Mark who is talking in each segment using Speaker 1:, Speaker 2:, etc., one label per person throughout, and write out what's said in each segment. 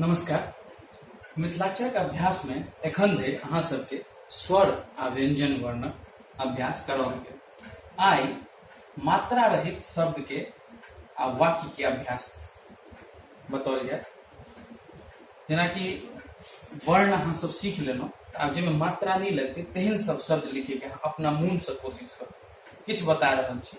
Speaker 1: नमस्कार मिथिलाक्षरक अभ्यास में एखन धरि अहाँ सबके स्वर आ व्यंजन वर्णक अभ्यास करौल गेल आइ मात्रा रहित शब्द के आ वाक्य के अभ्यास बतौल जाय जेनाकि वर्ण अहाँ सब सीख लेलहुँ तऽ आब जाहिमे मात्रा नहि लगतै तेहन सब शब्द लिखैके अहाँ अपना मोनसँ कोशिश करू किछु बता रहल छी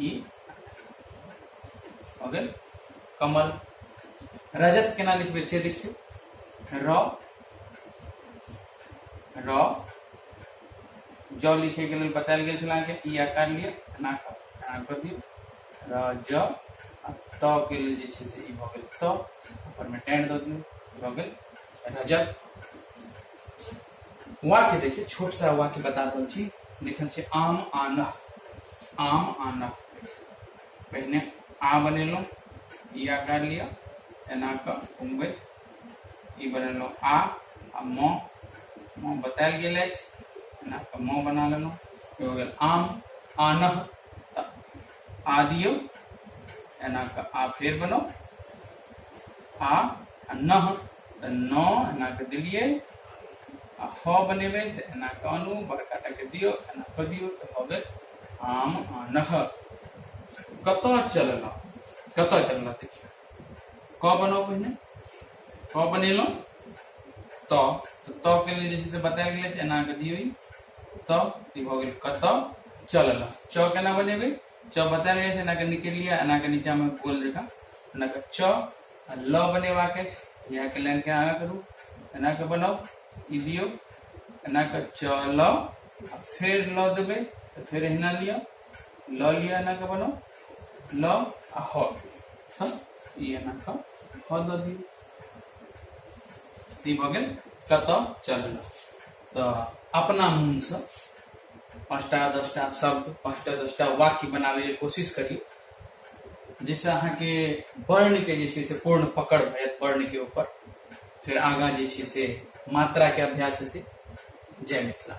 Speaker 1: ई हो गेल कमल रजत केना लिखबे से देखियो र र ज लिखे के लिए बतायल गेल छल अहाँके ई आकार लिए एना क- एना कर दियौ र ज आ त के लेल जे छै से ई भऽ गेल त ऊपर में टेंड दऽ दियौ ई भऽ गेल रजत वाक्य देखिए छोट सा वाक्य बता रहल छी लिखल छै आम आन आम आन पहने आ बनेलहुँ ई आकार लिअ एना कऽ घुमबैत ई बनेलहुँ आ आ म म बतायल गेल अछि एना कऽ म बना लेलहुँ ई हो गेल आम आन तऽ आ दियौ एना कऽ आ फेर बनाउ आ नह तऽ नओ एनाके देलियै आ ह बनेबै तऽ एनाके आनू बड़का टाके दियौ एना कऽ दियौ तऽ भऽ गेल आम आनह कतऽ चललहुँ कतऽ चललहुँ देखियौ क बनाउ पहिने क बनेलहुँ त त के लिए जैसे बतायल गेल छै एना के दियौ त ई भऽ गेल कतऽ चललहुँ च केना बनेबै च बतायल गेल छै एनाके निकलि लिअ एनाके नीचाँमे गोल जकाँ एनाके च आ ल बनेबाक अछि इएहके लाइनके आगाँ करू एनाके बनाउ ई दियौ एनाके च ल आ फेर ल देबै तऽ फेर एहिना लिअ ल लिअ एनाके बनाउ ल आ ह तऽ ई एनाके ह दऽ दियौ ई भऽ गेल कतऽ चललहुँ तऽ अपना मोनसँ पाँचटा दसटा शब्द पाँचटा दसटा वाक्य बनाबैके कोशिश करी जाहिसँ अहाँके वर्णके जे छै से पूर्ण पकड़ भए जायत वर्णके ऊपर फेर आगाँ जे छै से मात्राके अभ्यास हेतै जय मिथिला